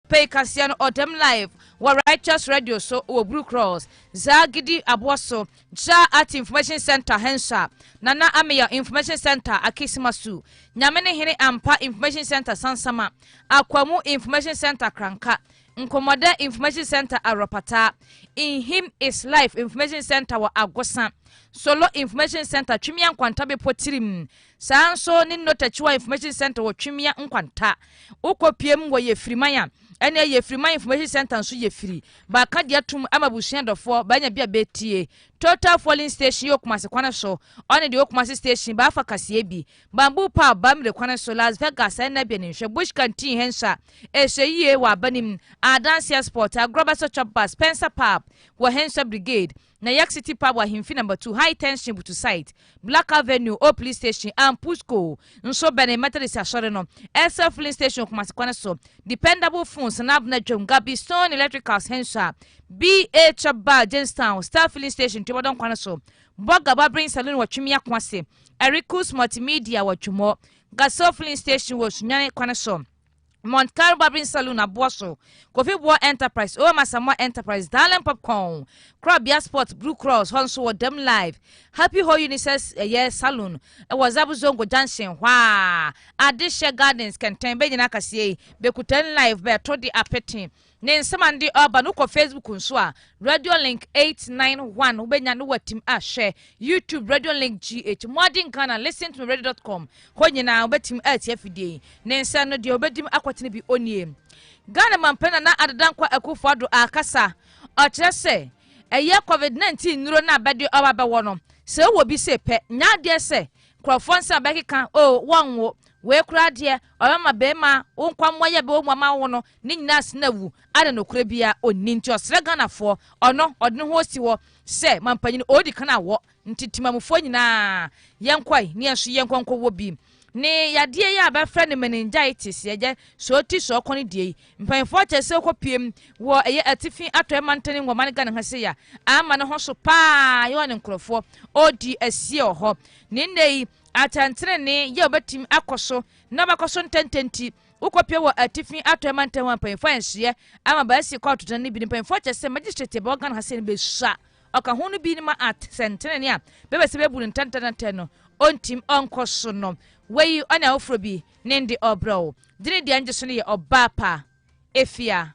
Pei kaseɛ no ɔdam live wɔ Righteous Radio so wɔ Bruu Cross, Zaa Gidi aboɔ so, Zaa Art Information Centre Hensha, Nana Ameyaw Information Centre Akisima Su, Nyame ne Hene Ampa Information Centre Sansama, Akwamu Information Centre Kranka, Nkɔmmɔdɛ Information Centre Awurapataa, In Him Is Life Information Centre wɔ Agosa, Solo Information Centre Twimia Nkwanta Bepɔ Tirim, Saa nso ne Nnotachiwa Information Centre wɔ Twemia Nkwanta. Wokɔ piem wɔ Yefiriman a, ɛneɛ Yefiriman Information Centre nso yɛ firi. Bɛaka de atom ama abusua dɔfoɔ, bɛanya bi a bɛtie. Total Fueling Station yɛ wɔ Kumasi kwane so, ɔne deɛ ɛwɔ Kumasi Station, bɛafa kaseɛ bi. Bamboo Pub, Bamire kwane so, Las Vegas, ɛnna bi ani nhwɛ. Bush Canteen hɛn nso a, ɛhyɛ yie wɔ Abanim. Adanseɛ Spot, Agorɔ Bɛsɔ Chop Bus, Spencer Pub wɔ hɛn nso a, Brigade. na York City Pub ahemfi number two, High Tension butu site, Black Avenue, Old Police Station, and Pusco nso bɛne Methodist Asɔre no, Aircel Filling Station Kumasi kwan so, Dependable Phones, Sanabna Dwam, Gabi Stone Electricals Hensua, BA Chop Bar Jamestown, Star Filling Station Tumadon kwan so, Burger Barbering Saloon wɔ Twemia kwan se, Ericus Multimedia wɔ Twemɔ, Gasol Filling Station wɔ Sunyane kwan so. Montar Barbering Saloon aboa so, Kofi Boa Enterprise, OM Asamoah Enterprise, Darling Popcorn, Korabea Sport, Blue Cross, hɔ nso wɔ Dam Live, Happy Hɔ Unisex ɛyɛ Saloon wɔ Zabu Zongo Junction hɔ a, Adehyɛ Gardens kɛntɛn bɛ nyinaa kaseɛ yi, Bekutan Live bɛɛto de apete Ne nsɛm a nde ɔɔba no kɔ Facebook nso a, Radiolink 891 wobɛnya no watim a hwɛ, YouTube Radiolink GH, Mmoaden Ghana, ListenToMeRadio dot com hɔ nyinaa wobɛtim aatie afidie yi. Ne nsɛm no deɛ ɔbɛdim akɔtene bi ɔnnie. Ghana Mampanin Nana Addo Dankwa Akuffo Addo aakasa, ɔkyerɛ sɛ ɛyɛ Covid 19 nnuro no a bɛde ɔɔba bɛwɔ no, sɛ wowɔ bi sei pɛ, nya adeɛ sɛ nkurɔfoɔ nsɛm a bɛkeka oo wɔnnwo wei koraa deɛ ɔbɛma bɛɛma wo nkwammoayɛ bɛwɔ mu ama wo no, Ne nyinaa sene awu a na nokorɛ biara ɔnni nti ɔsrɛ Ghanafoɔ ɔno ɔde ne ho ɔsi hɔ sɛ manpanyini ɔɔdi kan awɔ nti timamufoɔ nyinaa yɛnkɔe ne yɛnso yɛnkɔ nkɔ wɔ bi ne yadeɛ yi a bɛfrɛ no meningitis yɛgyɛ sɛ ɔti sɛ ɔkɔ no deɛ yi mpanimfoɔ kyɛ sɛ ɔkɔ piem wɔ ɛyɛ atifi atɔɛ mantane wɔ ma no Ghana ha sɛ ya ama ne ho so paa yɛwɔ ne nkorɔfoɔ ɔdi asie wɔ hɔ ne nnɛ yi atɛntenene yɛ ɔbɛtim akɔ so na ɔbɛkɔ so ntɛntɛnti Wokɔpue wɔ Atifi Atɔe Mantam a mpanyimfo a nhyehyɛe ama bɛasi kɔ atotra no bi no, mpanyimfo akyerɛ sɛ magistrate a ɛbɛwɔ Ghana ha sɛ no besua ɔka ho no bi no ma at sɛntenene a bɛbɛ sɛ bebu no ntɛntɛntɛntɛ no ontim ɔnkɔ so no. Wayi ɔne afoforo bi ne nde ɔbrɛw. Gyene deɛ ngye so no yɛ ɔbaa pa. Efia.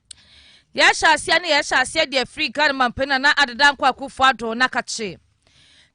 Yɛhyɛ aseɛ ne yɛhyɛ aseɛ deɛ firi Ghana mampanin na na adeda nkɔ akufo ado na kakye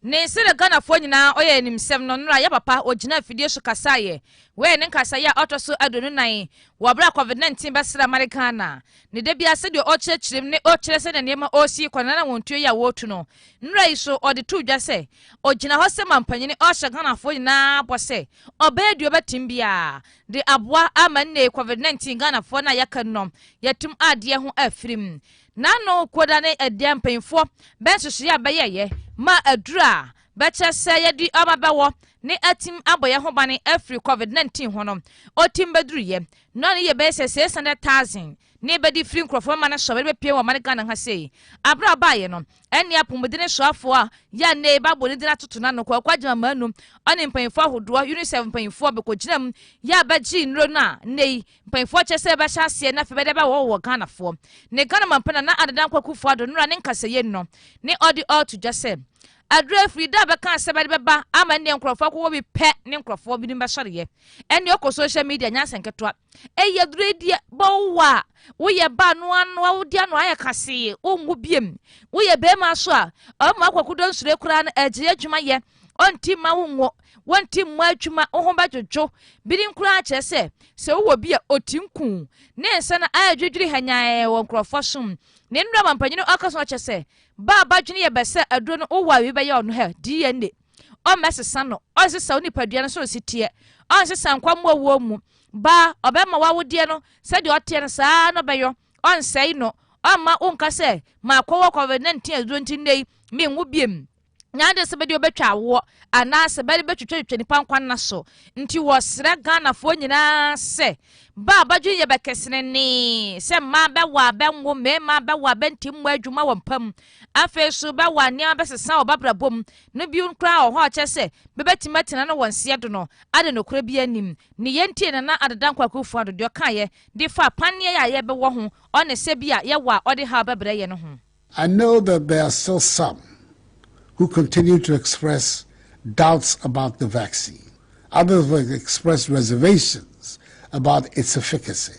ne sɛdeɛ Ghanafoɔ nyinaa ɔyɛ animsɛm no nnora yɛ papa ɔgyina afidie so kasaeɛ wei ne nkasaeɛ a ɔtɔ so aduonu nan wɔ berɛ a COVID-19 bɛsrɛ amane Ghana ne da biara sɛdeɛ ɔkyerɛkyerɛ mu ne ɔkyerɛ sɛdeɛ nneɛma ɔresi kɔ na na wɔn tuo yi a wɔretu no nnora yi so ɔde to dwa sɛ ɔgyina hɔ sɛ mampanin ɔhyɛ Ghanafoɔ nyinaa bɔ sɛ ɔbɛyɛ deɛ ɔbɛtim biara de aboa ama nnɛyi covid nineteen Ghanafoɔ no a yɛaka no yɛatum adeɛ ho afiri mu. N'ano koda ne ɛdeɛ mpanyinfoɔ bɛ nhyehyɛeɛ a bɛyɛeɛ ma aduru a bɛkyerɛ sɛ yɛde ɔma bɛwɔ ne atim abɔ yɛn ho bane afiri covid nineteen ho no, otim bɛduruiɛ no ano yɛ bɛyɛ sɛ six hundred thousand. Ne bɛ de firi nkurɔfoɔ mma no sɔre bɛpue wɔ ɔman Ghana ha sei. Aberɛ a ɔbaeɛ no, ɛnne apomudene soafoɔ a yɛ a nnɛyi bɛabɔ ne din atoto no ano, Kwaku Agyemang Manu, ɔne mpaninfoɔ ahodoɔ, UNICEF mpaninfoɔ, bɛkɔgyinam yɛ a bɛgyee nnuro no a nnɛyi mpaninfoɔ kyerɛ sɛ bɛbɛhyɛ aseɛ na afei bɛde aba hɔ wɔ Ghanafoɔ ne Ghanaman pa Nana Addo Dankwa Akufo Addo nnora ne nkasɛyie no no ne ɔde ɔɔto dwa sɛ aduro afiri da a bɛkaa sɛ bɛde bɛba ama nnɛɛ nkurɔfoɔ akokɔ bi pɛ ne nkurɔfoɔ binom bɛsɔreɛ ɛne ɔkɔ social media nyɛ asɛ nketewa ɛyɛ aduredie bɔwo a woyɛ ba no ano a wode ano ayɛ kasee wonwo biem woyɛ bɛrima so a ɔma akwakodɔ nsure koraa no agyiri adwuma yɛ ɔnti ma wonwo wɔnti mmɔ adwuma wo ho bɛdwodwo binom koraa kyerɛ sɛ sɛ wowɔ bi a ɔti nku ne nsa no ayɛ dwodwiri hanyaɛ wɔ nkurɔfoɔ som ne nnura ma mpanyini ɔka so ɔkyɛ sɛ ba a badwene yɛ bɛsɛ aduro no wowɔ a wei bɛyɛ ɔno hɛ dna ɔmmɛsesa no, ɔnsesa wo nipadua no soro si teɛ, ɔnsesa nkwa mmoa wuo mu. Baa, ɔbɛma w'awodeɛ no sɛdeɛ ɔteɛ no saa ara na ɔbɛyɔ, ɔnsɛe no, ɔmma wonka sɛ, makɔ wɔ COVID-19 aduro nti nnɛ yi menwo biom. Nyɛ adwene sɛ bɛde wo bɛtwa awoɔ anaasɛ bɛde bɛtwitwatwitwa nipa nkwa nna so. Nti wɔsrɛ Ghanafoɔ nyinaa sɛ, ba a bɛdwene yɛ bɛkɛsenenee sɛ mmaa bɛwo a bɛnwo, mmarima bɛwo a bɛnte mmoa adwuma wɔ mpa mu, Afei so bɛ wa nneɛma bɛsesa wɔ b'abrabɔ mu no bi koraa wɔ hɔ a ɔkyerɛ sɛ bɛ bɛtumi atena no wɔ nseɛ do no ade nokorɛ biaa nnim. Ne yɛ ntie na na Adeda Nkwah Akuufo Addo deɛ ɔkaa yɛ de faa panneɛ yɛ a yɛ bɛ wɔ ho ɔne sɛ bi a yɛ wɔ a ɔde haw bɛ brɛ yɛ no ho. I know that there are still some who continue to express doubts about the vaccine, others will express reservations about its efficacy,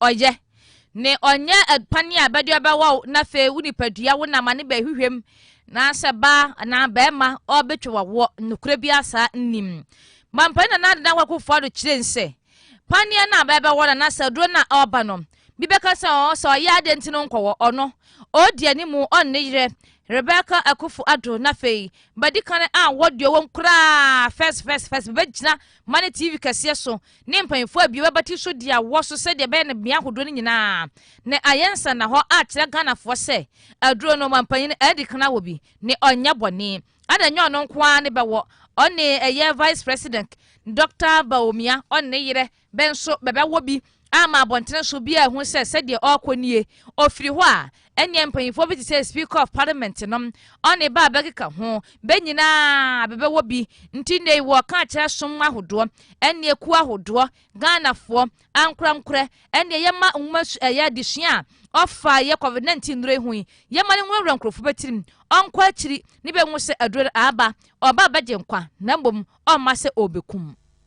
Ɔyɛ, ne ɔnyɛ adpan a bɛde ɔbɛwɔ wo na afei wo nipadua wo nam ane bɛhwehwɛ mu na sɛ baa anaa barima ɔbɛtwa wawoɔ. Nokorɛ biara saa nnim. Mampanin Nana Adedan Kwaku Offo Addo kyerɛ mu sɛ, Paneɛ no a bɛbɛwɔ no anaasɛ aduro no a ɔreba no, bi bɛka sɛ ɔɔ sɛ ɔyɛ adeɛ nti no nkɔwɔ, ɔno, ɔredi animu, ɔnne yerɛ, Rebecca Akuffo Addo, na afei, bɛdi kane a wɔdeɛ wɔm koraa, first, first, first, bɛbɛgyina ma ne TV kɛseɛ so, ne mpanyinfoɔ abie w'abati so di awɔ so sɛdeɛ ɛbɛyɛ no bea ahodoɔ no nyinaa na ayɛ nsannahɔ akyerɛ Ghanafoɔ sɛ aduro no ɔmanpanyin Adi Kan awɔ bi ne ɔnyɛ bɔne ɛna nyɛ ɔno nko ara ne bɛwɔ ɔne ɛyɛ Vice President Dɔkta Bawumia ɔne ne yerɛ bɛ nso bɛbɛwɔ bi ama abɔntene so bi a ɛho sɛ sɛdeɛ ɔrekɔ nie ɔfiri hɔ a Ɛnneɛ mpanyinfoɔ bi te sɛ Speaker of Parliament no, ɔne ba a bɛkeka ho, bɛ nyinaa bɛbɛwɔ bi. Nti nnɛ yi wɔɔka akyerɛ som ahodoɔ, ɛne akuo ahodoɔ, Ghanafoɔ, ankorɛnkorɛ, ɛnneɛ yɛmma nwoma su ɛyɛ adesua a ɔfa yɛ Covid 19 nnuro yi ho yi, yɛmma no nwurawura nkorɔfoɔ bɛ tirim, ɔnkɔ akyiri ne bɛ nhu sɛ aduro no aaba, ɔɔba abɛgye nkwa, na mmom ɔmma sɛ ɔɔbɛkum.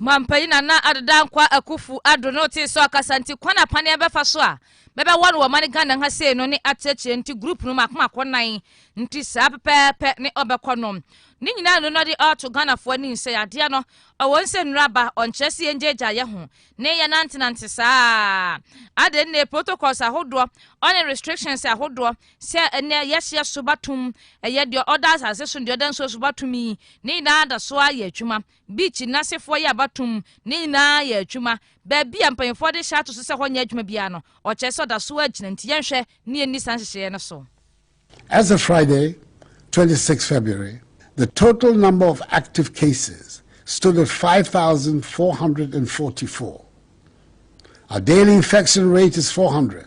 Mampanyin Nana Addo Dankwa Akuffo Addo no tsee sɛ ɔkasa ntsi kwan a paneɛ bɛfa so a bɛbɛwɔ no wɔ ɔman Ghana ha sei no ne atseatsea ntsi group no mako mako nan ntsi saa pɛpɛɛpɛ ne ɔbɛkɔ no ne nyinaa no na ɔde ɔɔto Ghanafoɔ anim sɛ yadeɛ no ɔwɔ nsɛ nnuro aba ɔnkyerɛ sɛ yɛngyaagyaa yɛ ho ne yɛ nantenante saa adɛn ne protocols ahodoɔ ɔne restrictions ahodoɔ sɛ ɛnɛ yɛseɛ so batom ɛyɛ deɛ ɔda asase so deɛ ɔda nsuo so batom yi ne nyinaa da so ayɛ adwuma beach nasefoɔ yɛ abatom ne nyinaa yɛ adwuma baabi a mpanyinfoɔ de hyɛ ato so sɛ hɔ nyɛ adwuma biara no ɔkyerɛ sɛ ɔda so agyina nti yɛnhwɛ ne yɛnni saa nhyehyɛeɛ no so As of Friday, 26 February, the total number of active cases stood at 5,444. Our daily infection rate is 400.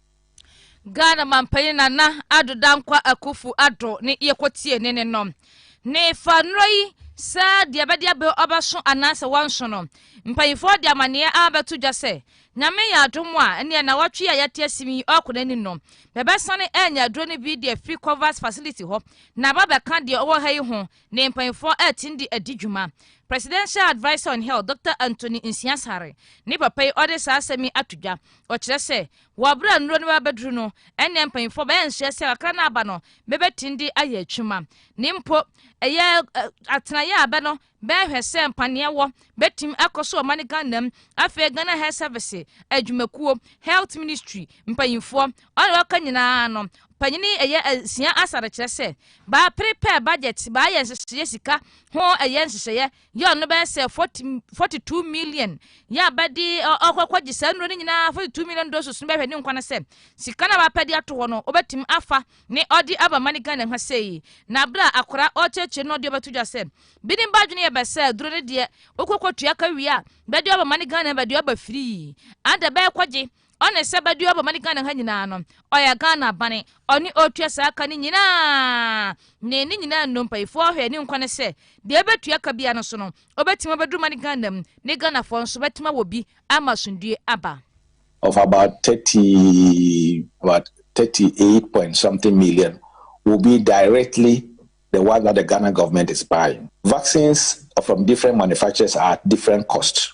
Ghana mampanyin Nana Addo Dankwa Akuffo Addo ne yɛkɔtie ne ne no. Ne fa nnora yi sɛ deɛ bɛde abɛ ɔbɛso anaasɛ wɔnso no, mpanyinfoɔ de amaneɛ abɛto dwa sɛ nyame yɛ adom a ɛneɛ na wɔtwe a yɛte asim yi ɔkɔ n'anim no, bɛbɛsane anya aduro no bi de afiri Covas facility hɔ na aba bɛka deɛ ɔwɔ ha yi ho ne mpanyinfoɔ ɛɛten de adi dwuma. Presidential Adviser on Health Doctor Anthony Nsiah-Sareh ne papa yi ɔde saa asɛm yi ato dwa. Ɔkyerɛ sɛ wɔ bere a nnuro no bɛbɛduru no ɛnneɛ mpanyinfoɔ bɛɛnsoɛ sɛ kakra no aba no bɛbɛten de ayɛ atwuma ne mpo ɛyɛ atenaeɛ a bɛ no bɛɛhwɛ sɛ mpaneɛ wɔ bɛtim akɔ so ɔma ne Ghana mu. Afei Ghana Health Service adwumakuo, Health Ministry mpanyinfoɔ, Ɔna wɔka nyinaa no, panyin ɛyɛ sua asa de kyerɛ sɛ baa prepare budget, baa yɛ nhyehyɛeɛ sika ho ɛyɛ nhyehyɛeɛ yɛ ɔno bɛyɛ sɛ 40, 42 million yɛ abɛde ɔkɔkɔ gye saa nnuro no nyinaa 42 million doses no bɛhwɛ ne nkwa no sɛ sika no a wapɛ de ato hɔ no ɔbɛtumi afa ne ɔde aba ma ne Ghana ha sei na berɛ a akora ɔkyerɛkyerɛ no ɔde ɔbɛto dwa sɛ bi ne ba adwene yɛ bɛ sɛ duro no deɛ wokɔkɔ tua ka wie a bɛde ɔba ma ne Ghana bɛde ɔba firii ada bɛɛkɔgye ɔne sɛ bɛde ɔbɔ ma ne ghana ha nyinaa no ɔyɛ ghana bane ɔne ɔtua saa ka no nyinaa ne ne nyinaa nnompayifoɔ ɔhwɛ ne nkwa no sɛ deɛ ɛbɛtua ka bia no so no ɔbɛtumi abɛduru ma ne ghana mu ne ghanafoɔ nso bɛtumi awɔ bi ama asomdue aba of about 30 about 38 point something million will be directly the one that the Ghana government is buying. Vaccines from different manufacturers are at different costs.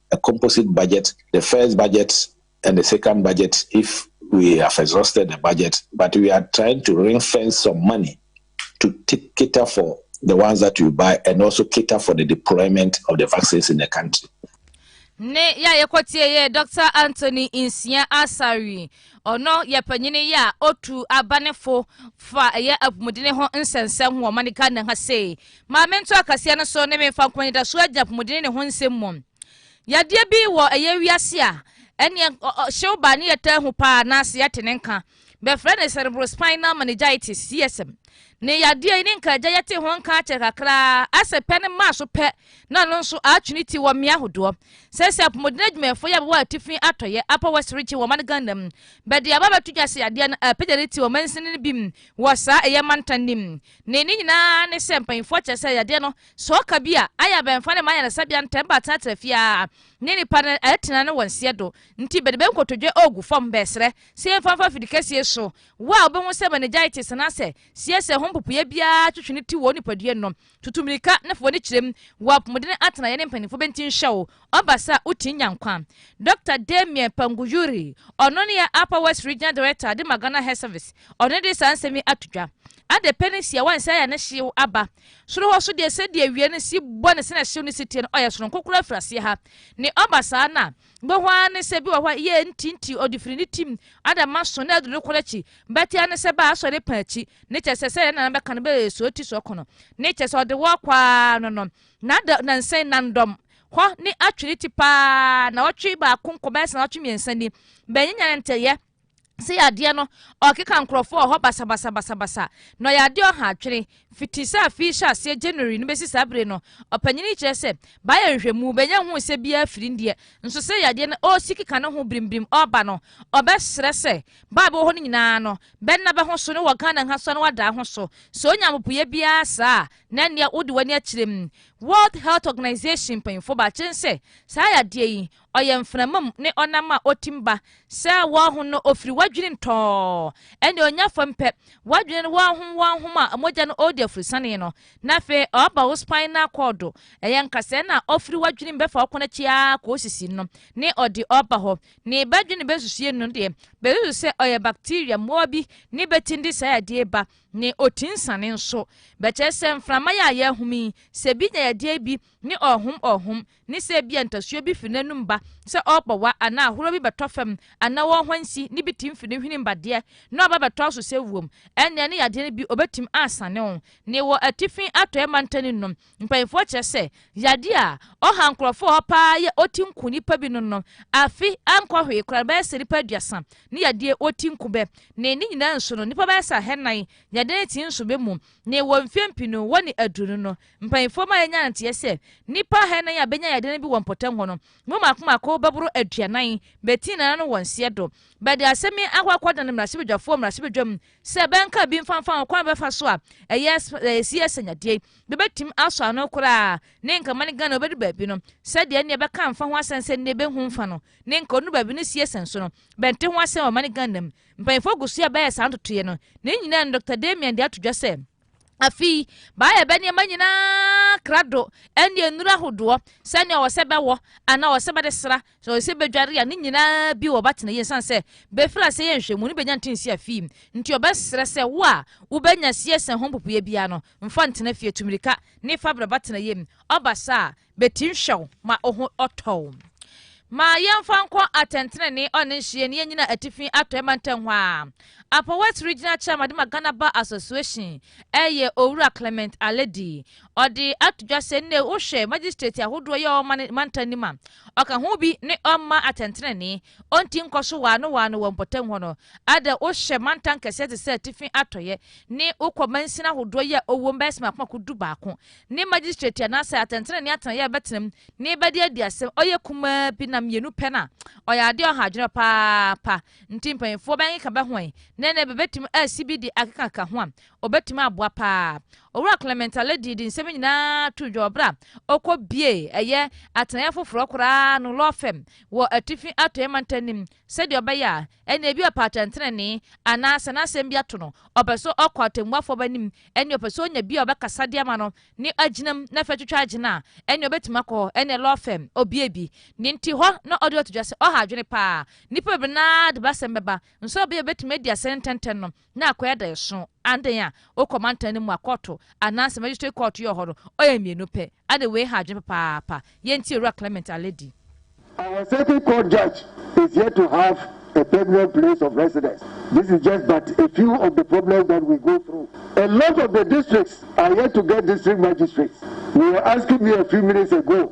a composite budget, the first budget and the second budget if we have exhausted the budget, but we are trying to ring fence some money to take, cater for the ones that you buy and also cater for the deployment of the vaccines in the country. ne yɛ a yɛkɔtie yɛ dr anthony nsia asari ɔno yɛ panyini yɛ a otu abanefo fa ɛyɛ apɔmuden ho nsɛnsɛm ho ɔma ne ghana ha sei Ma mento akaseɛ no so ne memfa nkɔ anidasoɔ agyina apomodene ne ho nsɛm mu. Yadeɛ bi wɔ ɛyɛ wiase a ɛneɛ hyew ba ne yɛtaa hu paa anaase yɛte ne nka. Bɛfrɛ no cerebrospinal meningitis, CSM. Ne yadeɛ yi ne nka agya yɛte ho nka akyɛ kakraa asɛ pɛ ne maa so pɛ na no nso atwe ne ti wɔ mmea ahodoɔ. Sɛsɛ apomodene adwumayɛfoɔ yi a bɛwɔ atifi atɔyɛ, Upper West Region, wɔ ɔman Ghana mu bɛde aba abɛto dwa sɛ yadeɛ no apagya ne ti wɔ mansini no bi mu wɔ saa ɛyɛ mantan no mu. Ne ne nyinaa ne sɛ mpanyimfoɔ kyerɛ sɛ yadeɛ no, sɛ ɔka bi a, ayɛ a bɛmfa no mma ayaresabea ntɛm ba atenatena fie ara ne nnipa no atena ne wɔn seɛ do nti bɛde bɛ nkotodwe ɔɔgu fam. Bɛɛsrɛ sɛ yɛmfa mfa afidi kɛseɛ so. Wo a wobɛhu sɛ meningitis anaasɛ seɛseɛ ho mpopoeɛ biara twetwe ne ti wɔ wo nipadua nom, tutu mmirika na fa w'ani kyerɛ mu. Wɔ apomuden atenaeɛ ne mpanyimfoɔ bɛnti nhwɛ wo. Ɔba sa wo tin nya nkwa. Dɔkta Damien Panguyuri, ɔno ne yɛn Upper West Regional Director de ma Ghana Health Service, ɔno de saa nsɛm yi ato dwa. Ade pe ne siawa nsa ya ne hyew aba. Soro hɔ so deɛ sɛdeɛ awia no si bɔ ne sɛdeɛ hyew no si teɛ no, ɔyɛ soronko koraa firi aseɛ ha. Ne ɔba saa no a, wobɛhu ara ne sɛ bi wɔ hɔ a yɛ nti nti ɔde firi ne tim ada ma so na aduru nokorɛ akyi. Bɛte ara ne sɛ baa asɔ ne pɛn akyi. Ne kyɛ sɛ sɛdeɛ ne nana bɛka no bɛ sɔ ti sɔ kono. Ne kyɛ sɛ ɔde wɔ kɔ ara no no. Nada nansɛn nandɔm. Hɔ ne atwere ti paa na ɔtwe baako nkɔbɛsa na ɔtwe mmiɛnsa ni. Bɛnyanya ne ntɛyɛ sɛ yadeɛ no ɔkeka nkurɔfoɔ wɔ hɔ basabasa basabasa na ɔyɛ adeɛ ɔha adwene fiti sɛ afei hyɛ aseɛ January no bɛsi saa bere no ɔpanyin yi kyerɛ sɛ baayɛ nhwɛmu bɛnya hu sɛ biara firi ndeɛ nso sɛ yadeɛ no ɔresi keka ne ho birimbirim ɔreba no ɔbɛsrɛ sɛ baa bɛwɔ hɔ no nyinaa no bɛnna bɛho so ne wɔ Ghana ha so na wadaa ho so sɛ ɔnya mpopoyɛ biara saa a Na nea wode w'ani akyerɛ mu. World Health Organization mpanyimfo ba kyerɛ sɛ saa yadeɛ yi, ɔyɛ mframa mu ne ɔnam a otim ba. Sɛ wɔho no ofiri w'adwene mu tɔɔ, ɛnna onya fam pɛ. W'adwene no wɔhom wɔhom a mogya no ɔredi afurusanee no, na afei ɔba wo spinal cord. Ɛyɛ nkasɛɛ na ofiri w'adwene mu bɛfa wo kɔn akyi ara kɔ wo sisi no ne ɔde ɔba hɔ. Ne bɛdwene bɛnsusuie no deɛ, bɛsusu sɛ ɔyɛ bacteria mmoa bi ne bɛtindi saa yadeɛ yi ba. ne otinsane nso. Bɛkyerɛ sɛ mframa yi a yɛrehome yi, sɛ bi nya yadeɛ bi ne ɔrehom ɔrehom, ne sɛ ebia ntasuo bi firi n'anum ba sɛ ɔrepɔwa anaa ahoroɔ bi bɛtɔ fam anaa ɔrehwansi ne bi tim firi ne hwenem ba deɛ na ɔba bɛtɔ so sɛ wuom, ɛnneɛ ne yadeɛ no bi ɔbɛtim asane wo. Ne wɔ atifi atɔeɛ mantanin no, Mpanyimfoɔ kyerɛ sɛ yadeɛ a ɔha nkorɔfoɔ hɔ paa yɛ otinko nnipa binom no afe ankɔ hwee koraa no bɛyɛ sɛ nnipa aduasa ne yadeɛ otinko bɛ ne ne nyinaa nso no nnipa bɛyɛ sɛ ahannan yadeɛ no ti nso bɛ mu ne wɔ mfeɛ mpii no wɔ ne aduonu no mpanyimfoɔ ma yɛnya nteɛ sɛ nnipa ahannan a bɛnya yadeɛ no bi wɔ mpɔtam hɔ no mu mako mako bɛboro aduanan bɛ ti nana no wɔ nseɛ do bɛde asɛm yi akɔ akɔ dan mmarahyɛbadwafoɔ mmarahyɛbadwam sɛ bɛnka bi mfa mfa ho kwan bɛfa so a ɛyɛ ɛyɛ si yɛ sɛ nyadeɛ bɛbɛtumi asɔ ano koraa ne nka mane Ghana ɔbɛdu baabi no sɛdeɛ nneɛ bɛka mfa ho asɛm sɛ nneɛ bɛhu mfa no ne nka ɔnu baabi no sie sɛn so no bɛnte ho asɛm wɔ mane Ghana mu mpanyinfoɔ gu so a bɛyɛ saa ntotoeɛ no ne nyinaa no Dr. Damian de ato dwa sɛ afei baayɛ bɛ nneɛma nyinaa krado ɛne nnuro ahodoɔ sɛnea ɔwɔ sɛ bɛwɔ anaa ɔwɔ sɛ bɛde sra Sɛ ɔsɛ bedware a, ne nyinaa bi wɔ ba tena yie ɛsiane sɛ befiri aseɛ yɛ nhwɛmu no benya nte nsi afii mu. Nti ɔbɛsrɛ sɛ wo a wobenya sie sɛ ho mpopoeɛ biara no mfa ntena fie, tu mirika ne fa brɛ ba tena yie mu. Ɔba saa a, betim hwɛ wo ma oho ɔtɔ wo. Ma yɛmfa nkɔ atɛntenenee ɔne nhyeɛ ne yɛnyina atifi atɔɛ mantam hɔ a Apɔwɛt Regional Chairman de ma Ghana Bar Association ɛyɛ Owura Clement Aledi. Ɔde ato dwa sɛ nnɛ wohwɛ magistrate ahodoɔ yɛ ɔma ne mantam no mu a, ɔka ho bi ne ɔmma atɛntenenee, ɔnti nkɔ so waano waano wɔ mpɔtam hɔ no. Ada wohwɛ mantam kɛseɛ te sɛ atifi atɔeɛ ne wokɔ mansin ahodoɔ yi a ɔwom bɛyɛ sɛ makomako du baako ne magistrate anaasɛ atɛntenenee atenaeɛ a ɛbɛtenam na ɛbɛde adi asɛm ɔyɛ kumaa bi na mmienu pɛ no a, ɔyɛ adeɛ a ɔha adwene paapa. Nti mpanyinfoɔ bɛnkeka bɛhoɛn na nnɛ bɛbɛtumi asi bi de akekaka ho a, Obetumi aboa paa. Owura Clement Alɛ dii de nsɛm nyinaa too dwa wɔ bere a okobiee ɛyɛ atenaeɛ foforɔ koraa no lɔɔ fɛm wɔ Atifi Atɔeɛ Mantanim sɛdeɛ ɔbɛyɛ a ɛnna ebi ɔpɛ atɛntenenee anaa sɛ n'asɛm bi ato no, ɔpɛ sɛ ɔkɔ atɛmmuafoɔ b'anim, ɛnna ɔpɛ sɛ ɔnya bi a ɔbɛkasa de ama no ne agyinam na afei atwitwa agyina a, ɛnna obetumi akɔ hɔ. Ɛnna lɔɔ fɛm obiee bi. Nea enti hɔ na ɔde ato dwa sɛ ɔha adwene paa. Nnipa bebree no ara de b'asɛm bɛba, nso ɔbea a obetumi adi asɛm no ntɛntɛm no, na akɔ yɛ daason andɛn a okɔ mantan no mu a kɔɔto anaa sɛ magistrate kɔɔto yɛ wɔ hɔ no ɔyɛ mmienu pɛ ade wei ha adwene papaapa yɛ ntie owura Clement Aledi. Our circuit court judge is yet to have a permanent place of residence this is just but a few of the problems that we go through a lot of the districts are yet to get district magistrates you were asking me a few minutes ago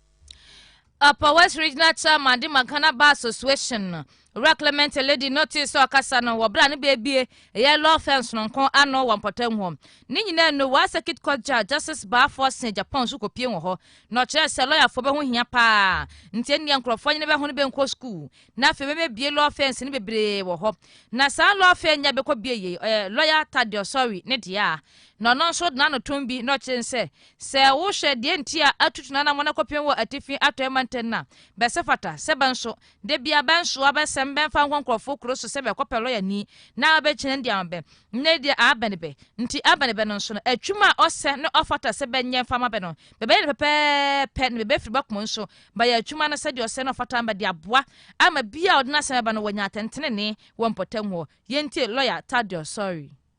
Upper West Regional Chairman de Magana Bar Association no, Owura Clement Eledi no tee sɛ ɔkasa no wɔ bere a ne beebie ɛyɛ Law Firm sononko ano wɔ mpɔtam hɔ. Ne nyinaa no, Waa Circuit Court Judge Justice Baa Forson Agyapong nso kɔpie wɔ hɔ na ɔkyerɛɛ sɛ lɔyafoɔ bɛho hia paa nti ɛnneɛ nkurɔfoɔ nyene bɛho no bɛnkɔ sukuu na afei bɛbɛbie law firms no bebree wɔ hɔ na saa law firm nyɛ bɛkɔbie yei ɔyɛ lɔya Tade Ɔsɔre ne deɛ a na ɔno nso de n'ano tom bi na ɔkyerɛ sɛ Sɛ wohwɛ deɛ nti a atutu n'anammɔn akɔpem wɔ atifi atɔeɛ mantam no a, bɛse fata sɛ bɛnso, da biara bɛnsoa bɛsɛm bɛmfa nkɔ nkurɔfoɔ kuro so sɛ bɛkɔpɛ lɔyani na ɔbɛgyina no de ama bɛ. Nnɛ yi deɛ abɛne bɛ. Nti abɛne bɛ no nso no, atwuma a ɔsɛ na ɔfata sɛ bɛnyɛ mfa mma bɛ no, bɛbɛyɛ no pɛpɛɛpɛ na bɛbɛfiri bɛ koma nso bayɛ atwuma no sɛdeɛ ɔsɛ na ɔfata ama de aboa ama biaa ɔde n'asɛm bɛba no wanya atɛntenenee wɔ mpɔtam hɔ. Yɛntie Lɔya Thaddeus Sɔrii.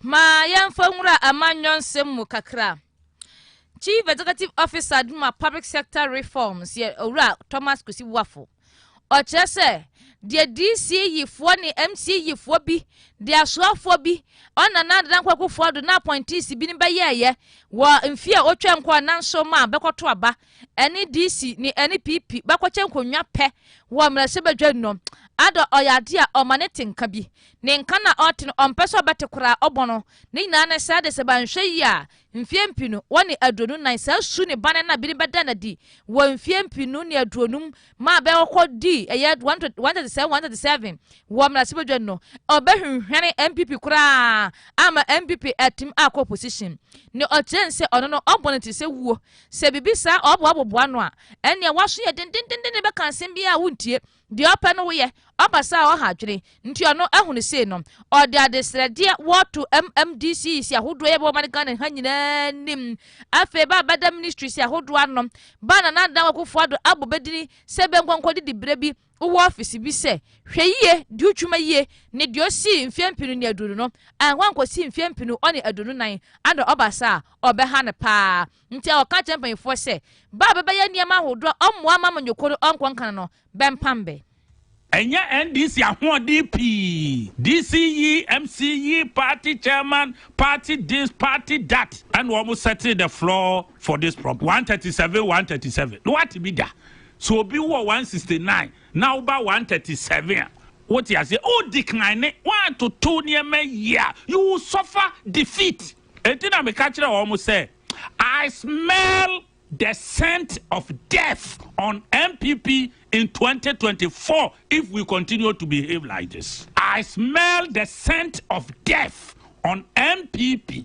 Ma yɛmfa nwura amanyɔ nsɛm mu kakra. Chief Executive Officer de ma Public Sector Reforms yɛ Owura Thomas Kwesi Boafo. Ɔkyerɛ sɛ deɛ DC yifoɔ ne MC yifoɔ bi de asoafoɔ bi ɔna na Nana Kwaku Foado na apɔnteesi bi no bɛyɛɛyɛ wɔ mfie a ɔtwa nkɔɔ nanso ma bɛkɔto aba ɛne DC ne NPP bɛkɔkyɛ nkonnwa pɛ wɔ mmarahyɛbadwam no, Addo ɔyɛ adeɛ a ɔma ne te nka bi. Ne nka no a ɔte no, ɔmpɛ sɛ ɔbɛte koraa, ɔbɔ no. Ne nyinaa ne sɛ de sɛ wɔanhwɛ yie a, mfeɛ mpenu wɔ ne aduonu nan, saa su ne bane no na binom bɛda no adi wɔ mfeɛ mpenu ne aduonum ma bɛkɔ dii ɛyɛ 137, 137 wɔ mmarahyɛbadwam no, ɔbɛhwehwɛne NPP koraa ama NPP atim akɔ opposition. Ne ɔkyerɛ ne sɛ ɔno no, ɔbɔ ne ti sɛ wuo Sɛ biribi saa ɔɔba a wɔboa no a, ɛnneɛ w'aso yɛ dendendenden bɛka asɛm biara a wontie. Deɛ ɔpɛ no woyɛ. Ɔba saa a ɔha adwene. Nti ɔno ahu no sei no, ɔde adesrɛdeɛ wɔto MMDCs ahodoɔ yi a ɛbɛba ɔman Ghana ha nyinaa anim. Afei ba a bɛda ministries ahodoɔ ano. Ba a Nana Dankwa Akufo-Addo abɔ bɛ dini sɛ bɛnkɔ nkɔdi diberɛ bi. wowɔ ɔfese bi sɛ Hwɛ Yiye, Di Utwuma Yie ne deɛ ɔsii mfeɛ mpenu ne aduonu no, ɛhɔ a nkɔsii mfeɛ mpenu ɔne aduonu nan ano ɔba saa a, ɔbɛha no paa. Nti a ɔka kyerɛ mpaninfoɔ sɛ, Ba a bɛbɛyɛ nneɛma ahodoɔ a ɔmmoa mma amanyɔkuo no ɔnkɔ nka no no, bɛmpam bɛ. Ɛnyɛ NDC ahoɔden pii, DC yi, MC yi, party chairman, party this, party that, ɛna wɔn settle the floor for this problem, one thirty seven, one thirty seven, na wate bi da. Sɛ obi wɔ one sixty nine na wo ba one thirty seven a, wote aseɛ? O decline, woatoto nneɛma yie a, you will suffer defeat. Enti na meka kyerɛ wɔn sɛ, I smell the scent of death on NPP in twenty twenty four if we continue to behave like this. I smell the scent of death on NPP.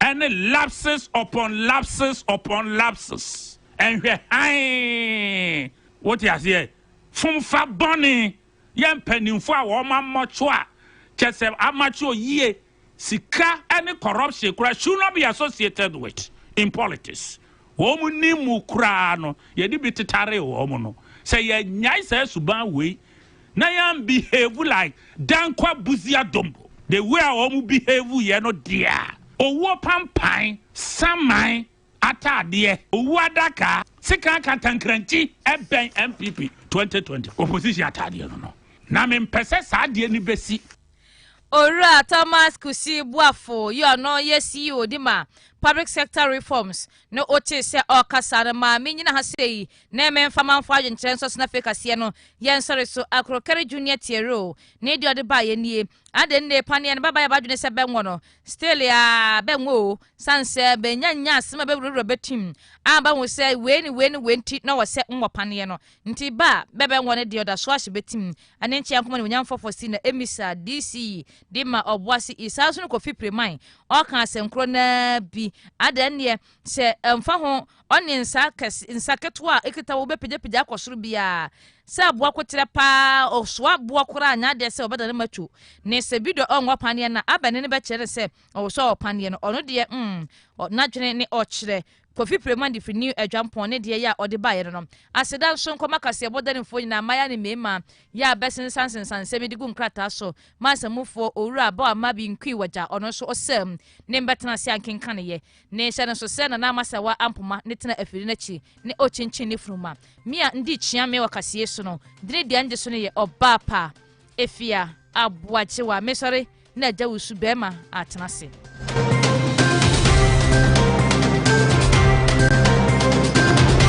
ɛne lapses upon lapses upon lapses ɛnhwɛ hann wote aseɛ fomfa bɔne yɛ mpanimfoɔ a wɔn amɔtwo a kyɛ sɛ amɔtwo yie sika ɛne corruption kora should not be associated with in politics wɔn ni mu koraa no yɛde bi tetare wɔn no sɛ yɛnyae saa suban wei Na yɛn behave like Dankwa Busia Dombo the way a wɔn behave yɛ no deɛ a, owuo pampan, saman ataadeɛ, owuo adaka, sekan kantankrankyi ɛbɛn NPP 2020 opposition ataadeɛ no no. Na me mpɛ sɛ saa adeɛ no bɛsi. Owura Thomas Kusi Boafo yɛ ɔno yɛ CEO de ma Public Sector Reforms no wotee sɛ ɔɔkasa no maa me nyina ha sɛ yi Na ɛmɛ mfa manfo adwenkyerɛ nsɔ sena fei kaseɛ no yɛ nsɔre so akoro kɛre junior tiere o ne deɛ ɔde baeɛ nie ade nne paneɛ no bɛba yɛ badwene sɛ bɛnwɔ no still a bɛnwɔ o san sɛ bɛnya nya asem a bɛwurawura bɛtim a bɛhu sɛ wei ne wei ne wei nti na wɔ sɛ nwɔ paneɛ no nti ba a bɛbɛnwɔ no deɛ ɔda so ahye bɛtim ɛne nkyɛn akoma ne onyam fɔfɔ si na emisa dc de ma ɔboase isaa so no kɔfi piriman ɔka asɛnkoro naa bi ada nneɛ Sɛ ɛmfa ho ɔne nsa kɛse, nsa ketewa a ekita wo bɛpagyapagya akɔ soro biara, sɛ aboa koterɛ paa, ɔsoa boɔ koraa a nyɛ adeɛ sɛ ɔbɛda ne matwo. Ne sɛ Bido ɔnwɔ ɔpaneɛ no a, abɛ ne no bɛkyerɛ no sɛ ɔwosɔ ɔpaneɛ no. Ɔno deɛ, mm, n'adwene ne ɔkyerɛ. Kofi Premandi firi New Adwampɔn ne deɛ yɛ a ɔde baeɛ no no. Aseda nso nkɔma kaseɛbɔ danifoɔ nyinaa, mmayaa ne mmarima, yɛ a bɛsensansensane nsɛm yi de gu nkrataa so ma asamufoɔ, Owura Bawama Binkwii Wagya, ɔno nso ɔsam ne mbɛtena ase a nkenkaneeɛ. Ne nhyɛ no nso sɛ Nana Amasɛwa Ampoma ne tena afiri no akyi ne ɔkyinkyin ne funuma. Me a ndi kyia me wɔ kaseɛ su no, dini deɛ ngye so no yɛ ɔbaa pa. Efia, Aboagyewa, mesɔre na agya wo su bɛɛma atena ase.